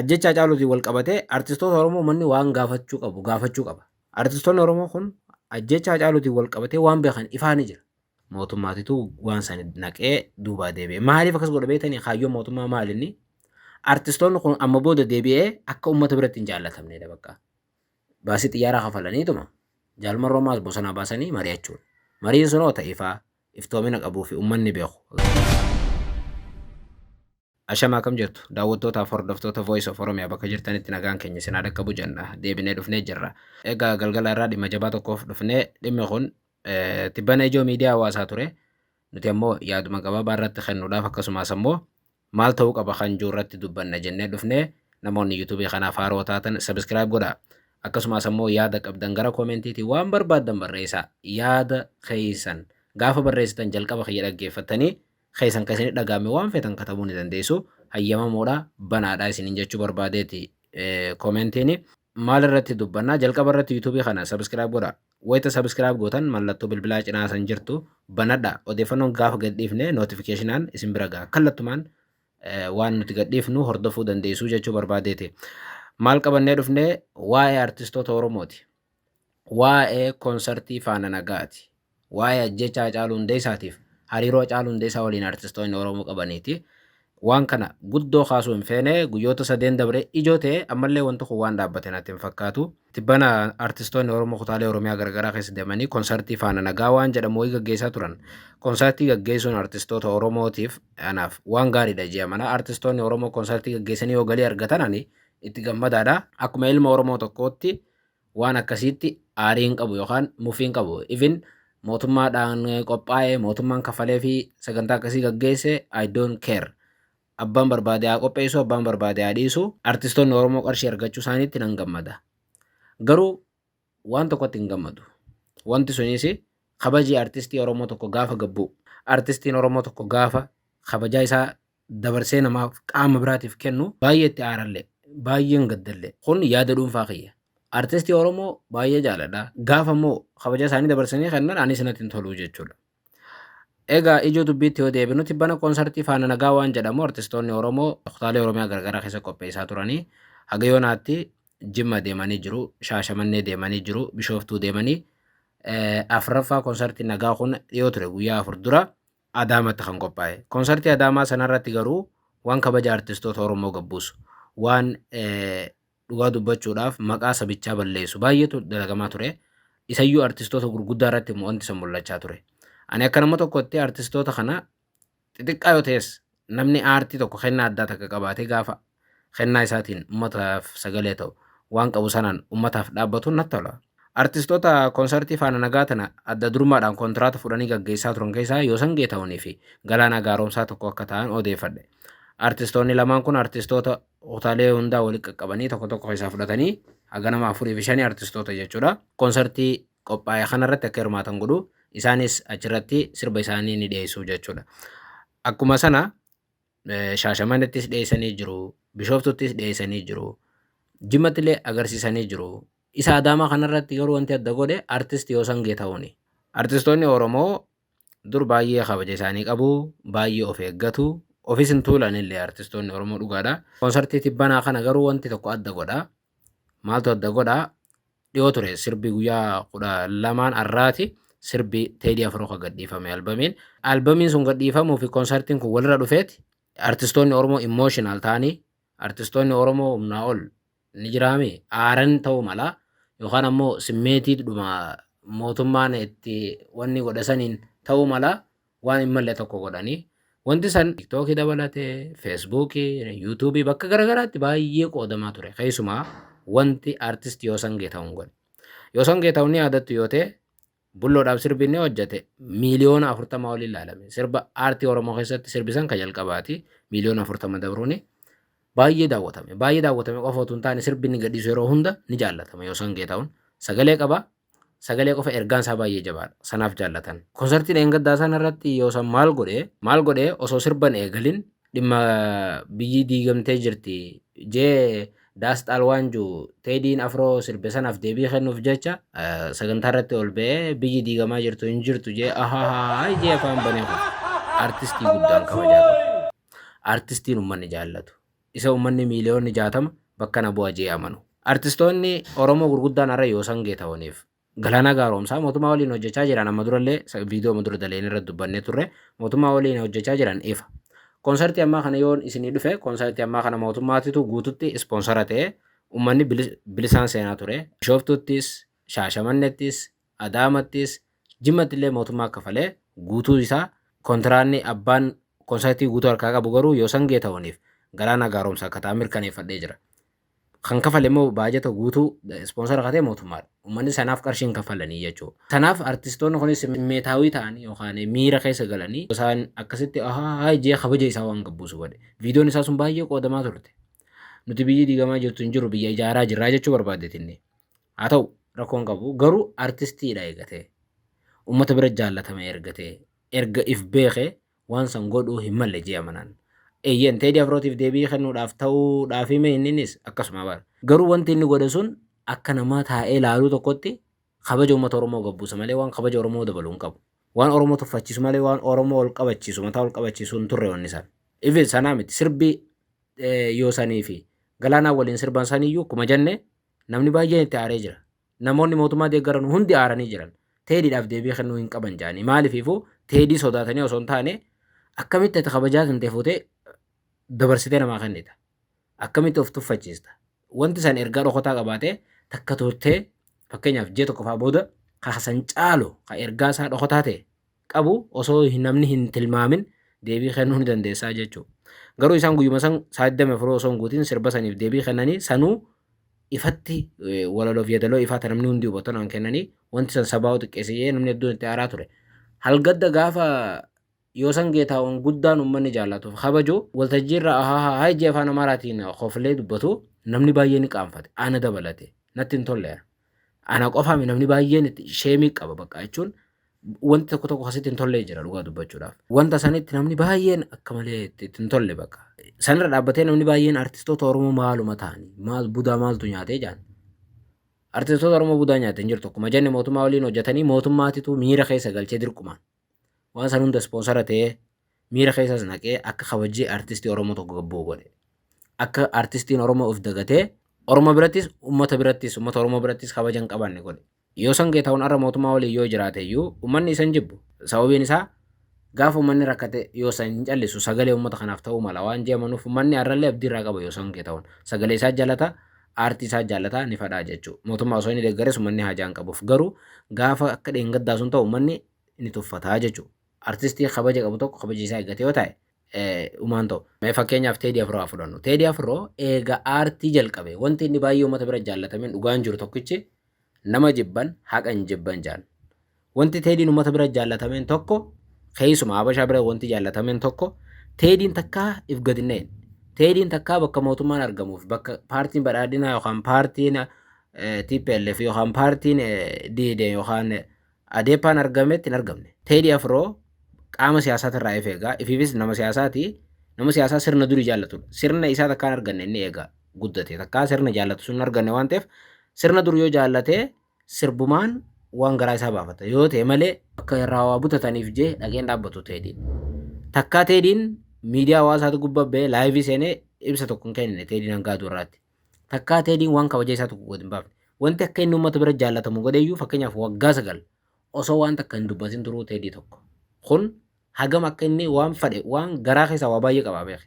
Ajjeechaa Hacaaluutiin walqabatee artistoota Oromoo uummanni waan gaafachuu qabu gaafachuu qaba. Artistoonni Oromoo kun ajjeechaa Hacaaluutiin walqabatee waan beekan ifaa ni jira. Mootummaatitu waan san naqee duubaa deebi'e. Maaliif akkas godha beektanii kaayyoon mootummaa maal inni? Artistoonni kun amma booda deebi'ee akka uummata biratti hin jaallatamneedha bakka. Baasii xiyyaaraa kafalaniituma jaalmarroo maas bosonaa baasanii mari'achuun. Mariin sunoo ta'ifaa iftoomina qabuu fi uummanni beeku. Ashamaa kam jirtu daawwattootaaf hordoftoota Voice of Oromia bakka jirtanitti nagaan keenya isin haa dhaqqabu jenna deebinee dhufnee jirra. Egaa galgala irraa dhimma jabaa tokkoof dhufnee dhimmi kun eh, tibbana ijoo miidiyaa hawaasaa ture. Nuti ammoo yaaduma gabaabaa irratti kennuudhaaf akkasumas ammoo maal ta'uu qaba kan jiru irratti dubbanna jennee dhufnee namoonni yuutuubii kanaaf haaroo taatan sabiskiraayib godhaa. Akkasumas ammoo yaada qabdan gara koomentiitii waan barbaaddan barreessaa yaada keessan gaafa barreessitan jalqaba kiyya dhaggeeffattanii keessan kan isinitti dhaga'ame waan feetan katabuu ni dandeessu. Hayyamamoodha, banaadha isiniin jechuu barbaadeeti koomentiini. Maal irratti dubbanna? Jalqaba irratti yuutuubii kana sabiskiraayib godha. Wayita sabiskiraayib gootan mallattoo bilbilaa cinaa san jirtu banadha. Odeeffannoon gaafa gadhiifne nootifikeeshinaan isin bira gaha. Kallattumaan waan nuti gadhiifnu hordofuu dandeessu jechuu barbaadeeti. Maal qabannee dhufne waa'ee artistoota Oromooti. Waa'ee konsartii Faana Nagaati. Waa'ee ajjechaa Hacaaluu Hundeessaatiif hariiroo Hacaaluu Hundeessaa waliin artistoonni Oromoo qabaniiti. Waan kana guddoo kaasuu hin feene guyyoota sadeen dabree ijoo ta'e ammallee wanti kun waan dhaabbate natti hin fakkaatu. Tibbana artistoonni Oromoo kutaalee Oromiyaa garagaraa keessa deemanii konsartii Faana Nagaa waan jedhamu wayii gaggeessaa turan. Konsartii gaggeessuun artistoota Oromootiif anaaf waan gaariidha jee amana. Artistoonni Oromoo konsartii gaggeessanii yoo galii argatan ani itti gammadaadha. Akkuma ilma Oromoo tokkootti waan akkasiitti aarii hin qabu yookaan mufii hin qabu even mootummaadhaan qophaa'e mootummaan kafalee fi sagantaa akkasii gaggeesse I don't care abbaan barbaade haa qopheessu abbaan barbaade haa dhiisu artistoonni Oromoo qarshii argachuu isaaniitti nan gammada garuu waan tokkotti hin gammadu wanti sunis kabajii artistii Oromoo tokko gaafa gabbu artistiin Oromoo tokko gaafa kabajaa isaa dabarsee namaaf, qaama biraatiif kennu baay'ee itti aarallee, baay'een gaddallee. Kun yaada dhuunfaa kiyya. Artistii Oromoo baay'ee jaaladha. Gaafa immoo kabaja isaanii dabarsanii kennan anis natti hin tolu jechuudha. Egaa ijoo dubbiitti yoo deebinu tibbana koonsartii Faana Nagaa waan jedhamu artistoonni Oromoo kutaalee Oromiyaa gargaraa keessa qopheessaa turanii haga yoonaatti Jimma deemanii jiru, Shaashamannee deemanii jiru, Bishooftuu deemanii afraffaa koonsartii Nagaa kun dhiyoo ture guyyaa afur dura Adaamatti kan qophaa'e. Konsartii Adaamaa sanarratti garuu waan kabaja artistoota Oromoo gabbuusu, waan dhugaa dubbachuudhaaf maqaa sabichaa balleessu baay'eetu dalagamaa ture. Isayyuu artistoota gurguddaa irratti immoo wanti san mul'achaa ture. Ani akka nama tokkotti artistoota kana xixiqqaa yoo ta'es Namni aartii tokko kennaa addaa takka qabaatee gaafa kennaa isaatiin ummataaf sagalee ta'u waan qabu sanaan ummataaf dhaabbatuun natti tola. Artistoota konsartii faana nagaa tana adda durummaadhaan kontiraata fudhanii gaggeessaa turan keessaa Yoosan Geetahunii fi Galaanaa Gaaromsaa tokko akka ta'an odeeffadhe. Artistoonni lamaan kun artistoota kutaalee hundaa walitti qaqqabanii tokko tokko keessaa fudhatanii haga nama afurii fi shanii artistoota jechuudha. Konsartii qophaa'e kanarratti akka hirmaatan godhu isaanis achirratti sirba isaanii ni dhiyeessu jechuudha. Akkuma sana shaashamanettis dhiyeessanii jiru, bishoftuttis dhiyeessanii jiru, jimmattillee agarsiisanii jiru. Isa adaamaa kanarratti garuu wanti adda godhe artist Yoosan Geetahuni. Artistoonni Oromoo dur baay'ee kabaja isaanii qabu, baay'ee of eeggatu, ofis hin tuulanillee artistoonni Oromoo dhugaadha. Konsartii tibbanaa kana garuu wanti tokko adda godha. Maaltu adda godha? dhiyoo ture sirbi guyyaa kudha lamaan arraati sirbi teedii afroo kan gadhiifame albamiin albamiin sun gadhiifamuu fi konsartiin kun walirra dhufeeti artistoonni oromoo imooshinaal ta'anii artistoonni oromoo humnaa ol ni jiraami aaran ta'uu mala yookaan ammoo simmeetiidhuma mootummaan itti wanni godhasaniin ta'uu mala waan hin malle tokko godhanii wanti san tiktookii dabalatee feesbuukii yuutuubii bakka garagaraatti baay'ee qoodamaa ture keessumaa wanti artist Yoosan Geetahuun godhe Yoosan Geetahuun ni yaadattu yoo ta'e bulloodhaaf sirbi inni hojjete miiliyoona afurtama olii ilaalame sirba aartii oromoo keessatti sirbisan ka jalqabaati miiliyoona afurtama dabruuni baay'ee daawwatame baay'ee daawwatame qofa otoo hin taane sirbi inni gadhiisu yeroo hunda ni jaallatama Yoosan Geetahuun sagalee qaba Sagalee qofa ergaan isaa baay'ee jabaadha. Sanaaf jaallatan. Konsartii dheengaddaa sana irratti yoosan maal godhe maal godhe osoo sirban eegalin dhimma biyyi diigamtee jirti jee daas xaal waan juu teediin afroo sirbe sanaaf deebii kennuuf jecha sagantaa irratti ol ba'ee biyyi diigamaa jirtu hin jirtu jee ahahaa jee afaan banee kun artistii guddaan kabajaa qabu. Artistiin uummanni jaallatu. isa uummanni miiliyoonni 60 bakka na bu'a je'ee amanu. Artistoonni Oromoo gurguddaan har'a Yoosangee tahoniif. Galaanaa Gaaroomsaa mootummaa waliin hojjachaa jiran amma durallee sa viidiyooma dura daleeyne irratti dubbannee turre mootummaa waliin hojjachaa jiran ifa. Konsartii ammaa kana yoon isinii dhufe konsartii ammaa kana mootummaatitu guututti ispoonsara ta'ee uummanni bilisaan seenaa ture. Bishooftuuttis, Shaashamannettis, Adaamattis Jimmattillee mootummaa kafalee guutuu isaa kontiraanni abbaan konsartii guutuu harkaa qabu garuu Yoosan Geetahuniif Galaanaa Gaaromsaa akka ta'an mirkaneeffadhee jira. Kan kafale immoo baajata guutuu ispoonsara katee mootummaadha. Uummanni sanaaf qarshii hin kaffalanii jechuudha. Sanaaf artistoonni kunis simmeetaawii ta'anii yookaan miira keessa galanii isaan akkasitti ahaa jee kabaja isaa waan gabbuusu godhe. Viidiyoon isaa sun baay'ee qoodamaa turte. Nuti biyyi diigamaa jirtu hin jiru biyya ijaaraa jirraa jechuu barbaaddetinni. Haa ta'u rakkoo hin qabu garuu artistiidha eega ta'e ummata bira jaallatame erga ta'e erga if beeke waan san godhuu hin malle jee amanaan. Eeyyeen Teedii Afrootiif deebii kennuudhaaf ta'uudhaafi mee inninis akkasuma bar. Garuu wanti inni godhe sun akka namaa taa'ee laaluu tokkotti kabaja ummata Oromoo gad buusa malee waan kabaja Oromoo dabalu hin qabu. Waan Oromoo tuffachiisu malee waan Oromoo ol qabachiisu mataa ol qabachiisu hin turre wanni san. Even sanaa miti sirbi Yoosaniifi Galaanaan waliin sirban saniyyuu akkuma jenne Namni baay'een itti aaree jira. Namoonni mootummaa deeggaran hundi aaranii jiran. Teediidhaaf deebii kennuu hin qaban jedhanii. Maalifiifuu teedii sodaatanii osoo hin taane akkamitti ati kabajaa kan ta'e fuutee dabarsitee namaa kennita. Akkamitti of tuffachiista. Wanti san ergaa dhokotaa qabaatee takka turtee fakkeenyaaf ji'a tokko fa'aa booda ka san caalu ka ergaa isaa dhokotaa ta'e qabu osoo namni hin tilmaamin deebii kennuu ni dandeessaa jechuudha. Garuu isaan guyyuma san sa'aatii dame furuu osoo hin guutin sirba saniif deebii kennanii sanuu ifatti walaloof yeedaloo ifaa namni hundi hubatu naan kennanii wanti san sabaa xiqqeesse jedhee namni hedduun itti aaraa ture. Halgadda gaafa Yoosan Geetaawwan guddaan uummanni jaallatuuf kabaju waltajjiirra ahaa haa ijji afaan Amaaraatiin koflee dubbatu namni baay'ee ni qaanfate ana dabalate natti hin tolleera. Ana qofaa mi namni baay'een itti sheemii qaba bakka jechuun wanti tokko tokko asitti hin tollee jira dhugaa dubbachuudhaaf. Wanta sanitti namni baay'een akka malee itti itti hin tolle bakka. Sanirra dhaabbatee namni baay'een artistoota Oromoo maaluma ta'ani maal budaa maaltu nyaatee jaan. Artistoota Oromoo budaa nyaate hin jirtu akkuma jenne mootummaa waliin hojjetanii mootummaatitu miira keessa galchee dirqumaan Waan san hunda ispoonsara ta'ee miira keessas naqee akka kabajjii artistii Oromoo tokko gabbu'u godhe. Akka artistiin Oromoo of dagatee Oromoo birattis ummata birattis ummata Oromoo birattis kabaja hin qabaanne godhe. Yoosan Geetahuun arra mootummaa waliin yoo jiraate iyyuu ummanni isa hin jibbu. Sababiin isaa gaafa ummanni rakkate Yoosan hin callisu sagalee ummata kanaaf ta'uu mala waan jee amanuuf ummanni arrallee abdii irraa qaba Yoosan Geetahuun. Sagalee isaa jaalata, aartii isaa jaalata ni fadhaa jechuu. Mootummaa osoo inni deeggares ummanni haajaa hin qabuuf. Garuu gaafa akka dheengaddaa sun ta'u ummanni ni tuffata jechuudha. Artistii kabaja qabu tokko kabaji isaa eeggate yoo ta'e umaan ta'u. Mee fakkeenyaaf Teedii Afroo haa fudhannu. Teedii Afroo eega aartii jalqabe wanti inni baay'ee uummata bira jaallatameen dhugaan jiru tokkichi nama jibban haqa hin jibban jaan. Wanti Teediin uummata bira jaallatameen tokko keessuma Habashaa bira wanti jaallatameen tokko Teediin takkaa if gad hin dha'in. Teediin takkaa bakka mootummaan argamuuf bakka paartiin badhaadhinaa yookaan paartiin TPLF yookaan paartiin DD yookaan Adeepaan argametti hin argamne. Teedii Afroo qaama siyaasaati irraa if eegaa. Ifiifis nama siyaasaati. Nama siyaasaa sirna durii jaallatudha. Sirna isaa takkaa hin arganne inni eegaa guddate. Takkaa sirna jaallatu sun hin arganne waan ta'eef sirna dur yoo jaallate sirbumaan waan garaa isaa baafata. Yoo ta'e malee akka irraa waa butataniif jee dhageen dhaabbatu teedii. Takkaa teediin miidiyaa hawaasaati gubbaa ba'ee laayivii seenee ibsa tokko hin kennine teediin hangaa duurraatti. Takkaa Teediin waan kabajaa isaa tokko gad hin baafne. Wanti akka inni uummata bira jaallatamu godheyyuu fakkeenyaaf waggaa sagal osoo waan takka hin dubbatin turuu Teedii tokko. Kun hagam akka inni waan fadhe waan garaa keessaa waa baay'ee qabaa beeke.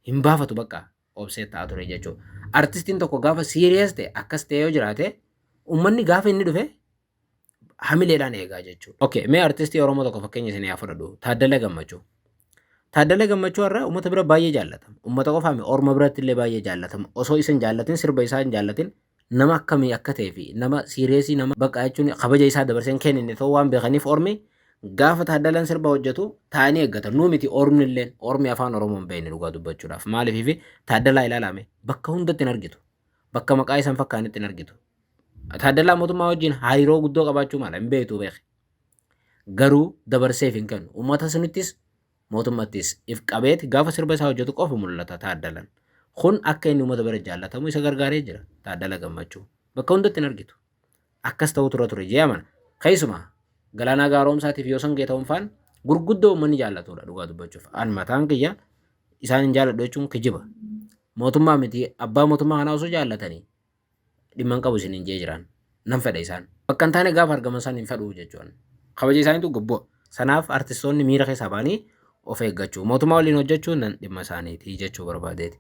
Hin baafatu bakka obsee ta'a ture jechuudha. Artistiin tokko gaafa siiriyees ta'e akkas ta'e yoo jiraate uummanni gaafa inni dhufe hamileedhaan eegaa jechuudha. Okay, mee artistii Oromoo tokko fakkeenya isin haa fudhadhu. Taaddala Gammachuu. Taaddala Gammachuu irraa uummata bira baay'ee jaallatama. Uummata qofaa miti orma biratti illee baay'ee jaallatama. Osoo isa hin jaallatin sirba isaa hin jaallatin nama akkamii akka ta'ee fi nama siireesii nama baqaa jechuun kabaja isaa dabarsee hin kennine ta'uu waan beekaniif ormi gaafa taaddalaan sirba hojjetu taa'anii eeggatan. Nuu miti ormi illee ormi afaan Oromoo hin beekne dhugaa dubbachuudhaaf. Maaliif taaddalaa ilaalame bakka hundatti hin argitu. Bakka maqaa isaan fakkaanitti hin argitu. Taaddalaa mootummaa wajjin hariiroo guddoo qabaachuu mala hin beektu beeke. Garuu dabarseef hin kennu. Uummata sunittis mootummattis if qabeeti gaafa sirba isaa hojjetu qofa mul'ata taaddalan. Kun akka inni uummata bira jaallatamu isa gargaaree jira taaddala gammachuu. Bakka hundatti hin argitu. Akkas ta'uu tura ture jee amana. Keessumaa Galaanaa Gaaroomsaatiif Yoosan Geetahun faan gurguddoo uummanni jaallatudha dhugaa dubbachuuf. An mataan kiyya isaan hin jaalladhu jechuun kijiba. Mootummaa miti abbaa mootummaa kanaa osoo jaallatanii dhimma hin qabu isiniin jee jiraan. Nan fedha isaan. Bakka hin taane gaafa argaman san hin fedhu jechuun. Kabaja isaaniitu gubbo. Sanaaf artistoonni miira keessaa ba'anii of eeggachuu. Mootummaa waliin hojjechuu nan dhimma isaaniiti jechuu barbaadeeti.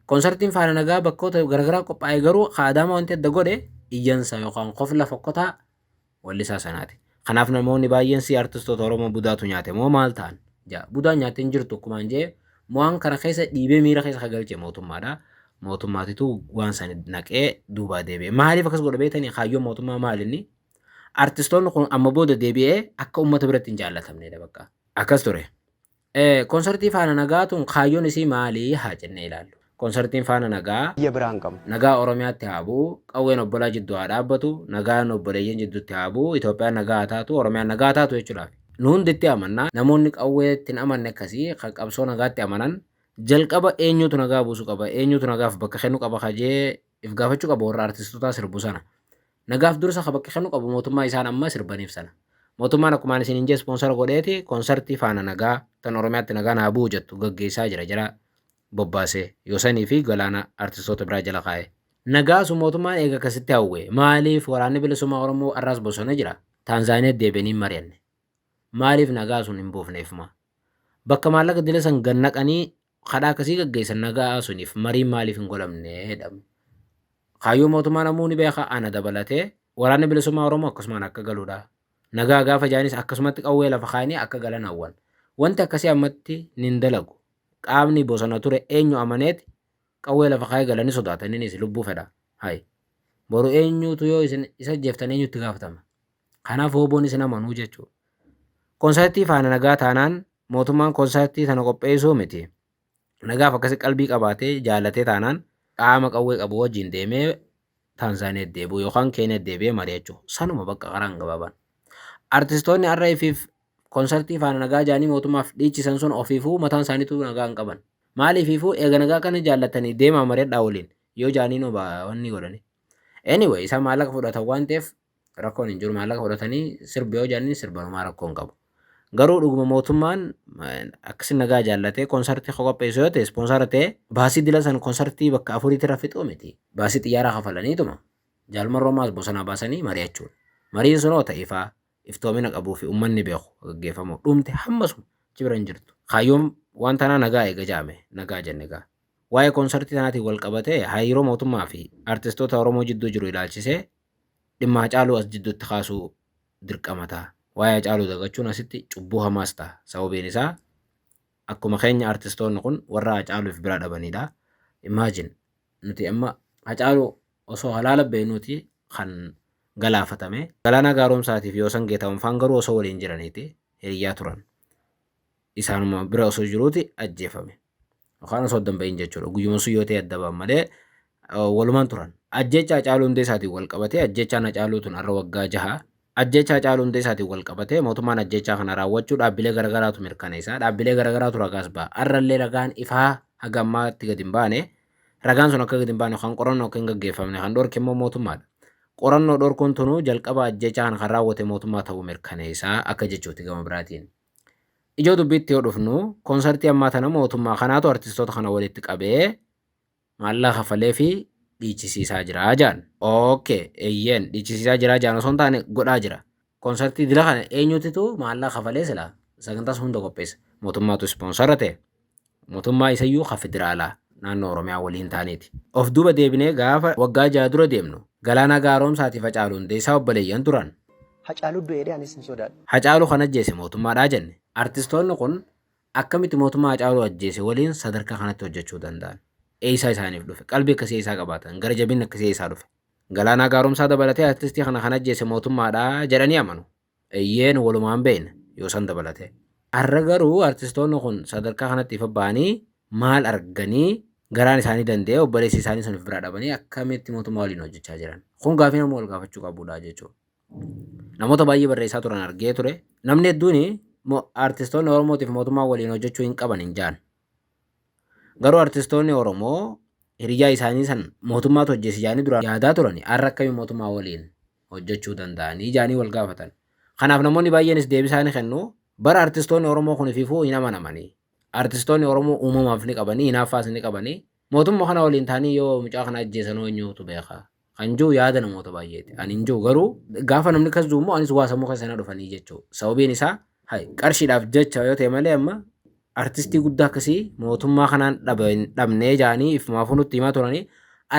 Konsartiin faana nagaa bakkoota garagaraa qophaa'e garuu ka Adaama wanti adda godhe iyyansa yookaan kofla fokkotaa wallisaa sanaati. Kanaaf namoonni baay'een si artistoota Oromoo budaatu nyaate moo maal ta'an? ja'a. Budaan nyaatte hin jirtu akkumaan je'e mo'aan kana keessa dhiibee miira keessa ka galche mootummaadha. Mootummaatitu waan san naqee duubaa deebi'e. Maaliif akkas godha beektanii kaayyoon mootummaa maalinni? Artistoonni kun amma booda deebi'ee akka uummata biratti hin jaallatamneedha bakka. Akkas ture. Konsartii Faana Nagaa tun kaayyoon isii maali haa jennee ilaallu. Konsartiin Faana Nagaa biyya biraa hin qabnu. Nagaa Oromiyaatti haa bu'u, qawween obbolaa jiddu haa dhaabbatu, nagaan obboleeyyan jiddutti haa bu'u, Itoophiyaan nagaa haa taatu, Oromiyaan nagaa haa taatu jechuudhaafi. Nu hundi itti amanna. Namoonni qawweetti hin amanne akkasii kan qabsoo nagaatti amanan jalqaba eenyuutu nagaa buusu qaba, eenyuutu nagaaf bakka kennu qaba ka jee if gaafachu qaba warra artistotaa sirbu sana nagaaf dursa ka bakka kennu qabu mootummaa isaan amma sirbaniif sana mootummaan akkumaan isin hin jee sponsora godheeti konsartii faana nagaa tan oromiyaatti nagaa naa bu'u jettu gaggeessaa jira jira bobbaase yosanii fi galaana artistoota biraa jala kaa'e nagaasu mootummaan eega akkasitti hawwe maaliif waraanni bilisummaa oromoo arraas bosona jira taanzaaniyaa deebi'anii mari'anne maaliif nagaa sun hin buufneefuma bakka maallaqa dila san gannaqanii Kadhaa akkasii gaggeessan nagaa suniif mariin maaliif hin godhamne jedhamu. Kaayyoo mootummaa namuu ni beeka ana dabalatee waraanni bilisummaa Oromoo akkasumaan akka galudha. Nagaa gaafa jaanis akkasumatti qawwee lafa kaayanii akka galan hawwan. Wanti akkasii ammatti nin dalagu. Qaamni bosona ture eenyu amaneeti qawwee lafa kaayee galanii sodaataninis lubbuu fedha. Hayi. Boru eenyutu yoo isin isa ajjeeftan eenyutti gaafatama? Kanaaf wooboonis hin amanuu jechuudha. Konsartii faana nagaa taanaan mootummaan konsartii sana qopheessuu miti. Nagaaf akkasi qalbii qabaatee jaalatee taanaan qaama qawwee qabu wajjin deemee Taanzaaniyaa deebi'u yookaan Keeniyaa deebi'ee mari'achuu. Sanuma bakka karaan gabaabaan. Artistoonni RFif konsartii faana nagaa jaanii mootummaaf dhiichisan sun ofiifuu mataan isaaniitu nagaa hin qaban. Maaliifiifuu eega nagaa kana jaallatanii deemaa mari'adhaa waliin yoo jaaniinoo wanni godhanii. Anyway isaan maallaqa fudhatan waan ta'eef Rakkoon hin jiru maallaqa fudhatanii sirbi yoo jedhanii sirban homaa rakkoo hin qabu. Garuu dhuguma mootummaan akkasi nagaa jaallatee konsartii koo qopheessu yoo ta'e ispoonsara ta'e baasii dila san konsartii bakka afuriitti irra fixuu miti. Baasii xiyyaaraa kafalaniituma jaalmarra homaas bosonaa baasanii mari'achuun. Mariin sunoo ta'e ifaa iftoomina qabuu fi uummanni beeku gaggeeffamu dhumte hammasuma achi bira hin jirtu. Kaayyoon waan tanaa nagaa eega jaame nagaa jenne egaa. Waa'ee konsartii tanaatiin wal qabatee hariiroo mootummaa fi artistoota Oromoo jidduu jiru ilaalchisee dhimma Hacaaluu as jidduutti kaasuu dirqama ta'a. Waa'ee Hacaaluu dagachuun asitti cubbuu hamaas ta'a. Sababiin isaa akkuma keenya artistoonni kun warra Hacaaluuf bira dhabanidha. Imagine nuti amma Hacaaluu osoo halaala beeknuuti kan galaafatame. Galaanaa Gaaromsaatiif Yoosan Geetaawun faan garuu osoo waliin jiraniiti hiriyyaa turan. Isaanuma bira osoo jiruuti ajjeefame. Yookaan osoo adda hin bahin jechuudha. Guyyuma sun yoo ta'e adda ba'an malee walumaan turan. Ajjeechaa Hacaaluu Hundeessaatiin wal qabatee ajjeechaan Hacaaluu tun har'a waggaa jaha. Ajjeechaa Hacaaluu Hundeessaatiin wal qabatee mootummaan ajjeechaa kana raawwachuu dhaabbilee garaagaraatu mirkaneessa. Dhaabbilee garaagaraatu ragaas ba'a. Har'allee ragaan ifaa haga ammaatti gadi hin baane. Ragaan sun akka gadi hin baane kan qorannoo akka hin gaggeeffamne kan dhorke immoo mootummaadha. Qorannoo dhorkuun tunuu jalqaba ajjeechaa kana kan raawwate mootummaa ta'uu mirkaneessa akka jechuuti gama biraatiin. Ijoo dubbiitti yoo dhufnu konsartii ammaa tana mootummaa kanaatu artistoota kana walitti qabee maallaqa kaffalee fi dhiichisiisaa jira jaan. Ookee eeyyeen dhiichisiisaa jira jaan osoo hin taane godhaa jira. Konsartii dila kana eenyutitu maallaqa kafalee silaa sagantaas hunda qopheessa mootummaatu ispoonsara ta'e. Mootummaa isayyuu ka federaalaa naannoo Oromiyaa waliin taaneeti. Of duuba deebinee gaafa waggaa jaha dura deemnu Galaanaa Gaaroomsaatiif Hacaaluu Hundeessaa obboleeyyan turan. Hacaaluu du'e jedhee anis hin sodaadhu. Hacaaluu kan ajjeese mootummaadha jenne. Artistoonni kun akkamitti mootummaa Hacaaluu ajjeese waliin sadarkaa kanatti hojjechuu danda'an? Eessaa isaaniif dhufe? Qalbii akkasii eessaa qabaatan? Gara jabinni akkasii eessaa dhufe? Galaanaa Gaaromsaa dabalatee artistii kana kan ajjeese mootummaadha jedhanii amanu. Eyyee nu walumaan beekna Yoosan dabalatee. Har'a garuu artistoonni kun sadarkaa kanatti ifa ba'anii maal arganii garaan isaanii danda'ee obboleessa isaanii sun of biraa dhabanii akkamitti mootummaa waliin hojjechaa jiran? Kun gaafii namuu wal gaafachuu qabudha jechuudha. Namoota baay'ee barreessaa turan argee ture. Namni hedduun artistoonni Oromootiif mootummaa waliin hojjechuu hin qaban hin jaan. Garuu artistoonni Oromoo hiriyaa isaanii san mootummaatu hojjeesi jaanii duraan yaadaa turani har'a akkamiin mootummaa waliin hojjechuu danda'anii jedhanii wal gaafatan. Kanaaf namoonni baay'eenis deebisaa ni kennu. Bara artistoonni Oromoo kun ififuu hin amanamanii. Artistoonni Oromoo uumamaaf ni qabanii, hinaaffaas ni qabanii. Mootumma kana waliin ta'anii yoo mucaa kana ajjeesanoo eenyuutu beeka? Kan jiru yaada namoota baay'eeti. Ani hin jiru garuu gaafa namni kas jiru immoo anis waa sammuu keessa na dhufanii jechuu. Sababiin isaa hay qarshiidhaaf jecha yoo ta'e malee amma artistii guddaa akkasii mootummaa kanaan dhaba hin dhabnee jedhanii ifumaafuu nutti himaa turanii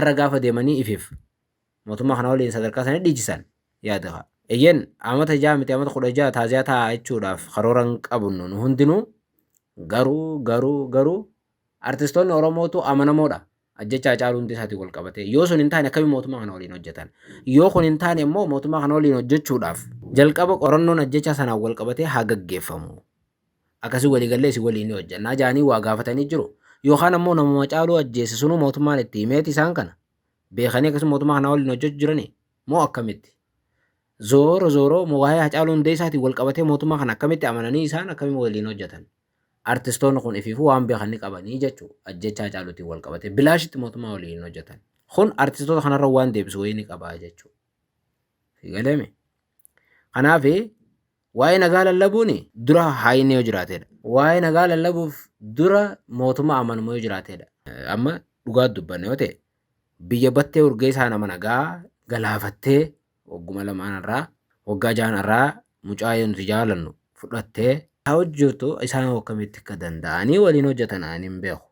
arra gaafa deemanii ifif Mootummaa kana waliin sadarkaa sana dhiichisan yaada ka'a. Eyyeen amata ja'a miti amata kudha ja'a taaziyaa taa'aa jechuudhaaf karoora hin qabnu nu hundinuu garuu garuu garuu artistoonni Oromootu amanamoodha ajjecha Hacaaluu Hundeessaatiin wal qabatee yoo sun hin taane akkamiin mootummaa kana waliin hojjetan yoo kun hin taane immoo mootummaa kana waliin hojjechuudhaaf jalqaba qorannoon ajjecha sanaan wal qabatee haa gaggeeffamu akkasii waliigallee isin waliin ni hojjannaa jaanii waa gaafatanii jiru yookaan ammoo namuma Hacaaluu ajjeesse sunuu mootummaan itti himeeti isaan kana beekanii akkasuma mootummaa kanaa waliin hojjechu jiranii moo akkamitti? Zooro zooro moo waa'ee Hacaaluu Hundeessaatiin wal qabatee mootummaa kana akkamitti amananii isaan akkamiin waliin hojjetan? Artistoonni kun ifiifuu waan beekan ni qabanii jechuu ajjecha Hacaaluutiin wal qabatee bilaashitti mootummaa waliin hin hojjetan. Kun artistoota kanarra waan deebisu wayii ni qabaa jechuu. Galeme. Kanaaf Waa'ee nagaa lallabuun dura haayinni yoo jiraatedha. Waa'ee nagaa lallabuuf dura mootummaa amanamu yoo jiraatedha. Amma dhugaa dubbanne yoo ta'e biyya battee urgeessaa nama nagaa galaafattee wagguma lamaan irraa waggaa jahan irraa mucaa yoo nuti jaalannu fudhattee haa hojjetu isaan akkamitti akka danda'anii waliin hojjetan ani hin beeku.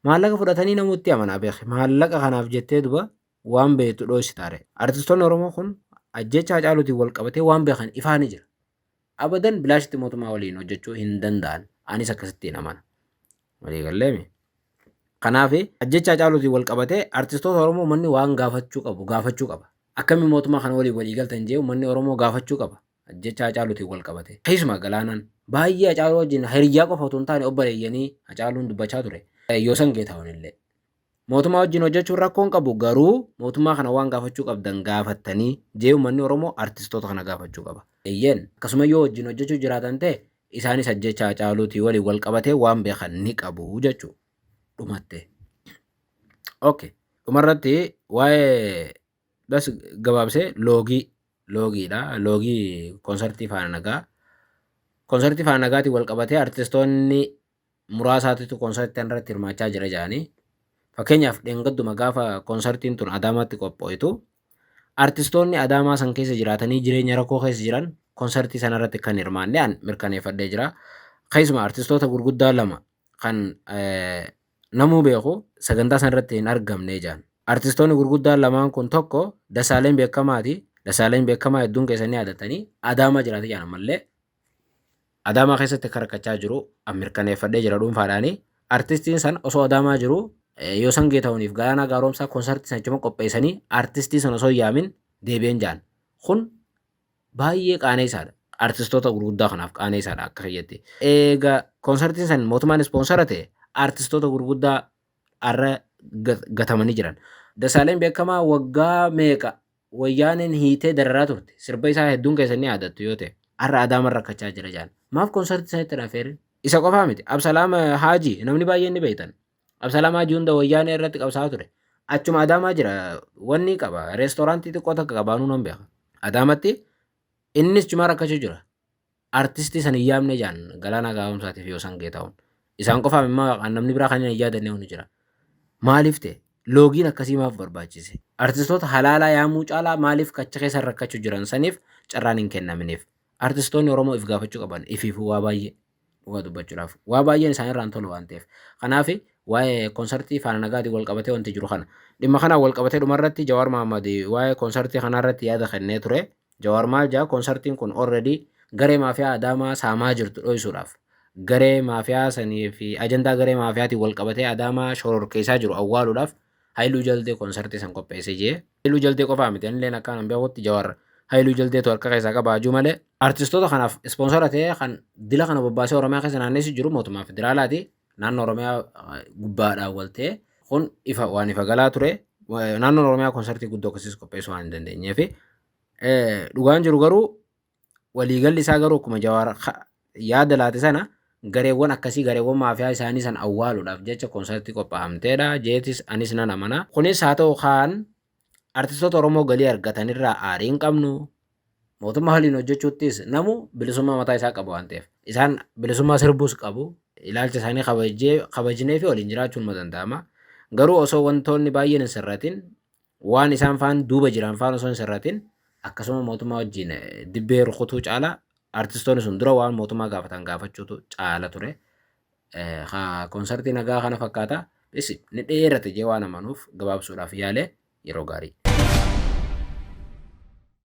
Maallaqa fudhatanii namuutti amanaa beeki. Maallaqa kanaaf jettee duba waan beektu dhoysitaa ree? Artistoonni Oromoo kun ajjecha Hacaaluutiin wal qabatee waan beekan ifaa ni jira. Abadan bilaashitti mootummaa waliin hojjechuu hin danda'an. Anis akkasittiin amana. Walii galleemi. Kanaaf ajjecha Hacaaluutiin wal qabatee artistoota Oromoo manni waan gaafachuu qabu gaafachuu qaba. Akkamii mootummaa kana waliin walii galtan jee manni Oromoo gaafachuu qaba. Ajjecha Hacaaluutiin wal qabatee. Keessumaa Galaanaan baay'ee Hacaaluu wajjin hiriyyaa qofa utuu hin taane obboleeyyanii Hacaaluun dubbachaa ture. Yoosan Geetaahun illee. Mootummaa wajjin hojjechuun rakkoo hin qabu garuu mootummaa kana waan gaafachuu qabdan gaafattanii jee ummanni Oromoo artistoota kana gaafachuu qaba. Eeyyeen, akkasuma yoo wajjin hojjechuu jiraatan ta'e isaanis ajjeechaa Hacaaluutii waliin wal qabatee waan beekan ni qabu jechuu. Dhumattee. Ok. Dhumarratti waa'ee bas gabaabsee loogii loogiidha. Loogii konsartii faana nagaa. Konsartii faana nagaatiin wal qabatee artistoonni muraasaatitu konsartii tana irratti hirmaachaa jira jedhanii fakkeenyaaf dheengadduma gaafa konsartiin tun Adaamaatti qophooytu artistoonni Adaamaa san keessa jiraatanii jireenya rakkoo keessa jiran konsartii sana irratti kan hirmaanne an mirkaneeffadhee jira. Keessumaa artistoota gurguddaa lama kan namuu beeku sagantaa sana irratti hin argamne jedhan. Artistoonni gurguddaan lamaan kun tokko Dasaaleen Beekamaati. Dasaaleen Beekamaa hedduun keessanii yaadatanii Adaamaa jiraata jedhan ammallee. Adaamaa keessatti akka rakkachaa jiru an mirkaneeffadhee jira dhuunfaadhaani. Artistiin san osoo Adaamaa jiru Yoosan Geetahuniif Galaanaa Gaaromsaa konsartii san achuma qopheessanii artistii san osoo yaamin deebi'een jaan. Kun baay'ee qaaneessaadha. Artistoota gurguddaa kanaaf qaaneessaadha akka kiyyatti. Eega konsartiin san mootummaan ispoonsara ta'e artistoota gurguddaa arra gatamanii jiran. Dasaaleen beekamaa waggaa meeqa Wayyaaneen hiitee dararaa turte. Sirba isaa hedduun keessan ni yaadattu yoo ta'e. Har'a Adaaman rakkachaa jira jedhan. Maaf konsartii sanitti hin affeerin? Isa qofaa miti. Absalaam Haaji namni baay'een ni beektan. Absalaam Haaji hunda Wayyaanee irratti qabsaa'aa ture. Achuma Adaamaa jira. Wanni qaba. Reestooraantii xiqqoo takka qaba anuu nan beeka. Adaamatti innis cimaa rakkachuu jira. Artistii san hin yaamne jaan Galaanaa Gaa'umsaatii fi Yoosan Geetaawun. Isaan qofaaf immoo kan namni biraa kan hin yaadanne ni jira. Maaliif ta'e? Loogiin akkasii maaf barbaachise? Artistoota halaalaa yaamuu caalaa maaliif kacha keessa rakkachuu jiran saniif carraan hin kennaminiif? Artistoonni Oromoo if gaafachuu qaban ifiifuu waa baay'ee dhugaa dubbachuudhaaf waa baay'een isaan irraan tolu waan ta'eef. Kanaaf waa'ee konsartii faana nagaatiin wal qabatee wanti jiru kana. Dhimma kanaan wal qabatee dhumarratti Jawaar Mahammad waa'ee konsartii kanarratti yaada kennee ture. Jawaar maal jedha konsartiin kun already garee maafiyaa Adaamaa saamaa jirtu dhoysuudhaaf garee maafiyaa sanii fi ajandaa garee maafiyaatiin wal qabatee Adaamaa shororkeessaa jiru awwaaluudhaaf Hayiluu Jaldee konsartii san qopheessee jee. Hayiluu Jaldee qofaa miti anilleen akkaan an beekutti Jawaar Hayiluu Jaldeetu harka keessaa qaba hajuu malee. Artistoota kanaaf ispoonsara ta'ee kan dila kana bobbaasee Oromiyaa keessa naanneessu jiru mootummaa federaalaati. naannoo Oromiyaa gubbaa dhaawwaltee kun ifa waan ifa galaa ture naannoon Oromiyaa konsartii guddoo akkasiis qopheessuu waan hin dandeenyee fi dhugaan jiru garuu waliigalli isaa garuu akkuma jawaara yaada laate sana gareewwan akkasii gareewwan maafiyaa isaanii san awwaaluudhaaf jecha konsartii qophaa'amteedha jeetis anis nan amana kunis haa ta'u kaan Artistoota Oromoo galii argatan irraa aarii hin qabnu. Mootummaa waliin hojjechuuttis namu bilisummaa mataa isaa qaba waan ta'eef. Isaan bilisummaa sirbuus qabu. Ilaalcha isaanii kabajee kabajnee fi waliin jiraachuun ma danda'ama. Garuu osoo wantoonni baay'een hin sirratin waan isaan faan duuba jiran faan osoo hin sirratin akkasuma mootummaa wajjin dibbee rukutuu caalaa artistoonni sun dura waan mootummaa gaafatan gaafachuutu caala ture. Konsartii nagaa kana fakkaata. Dhisi ni dheerate jee waan amanuuf gabaabsuudhaaf yaale yeroo gaarii.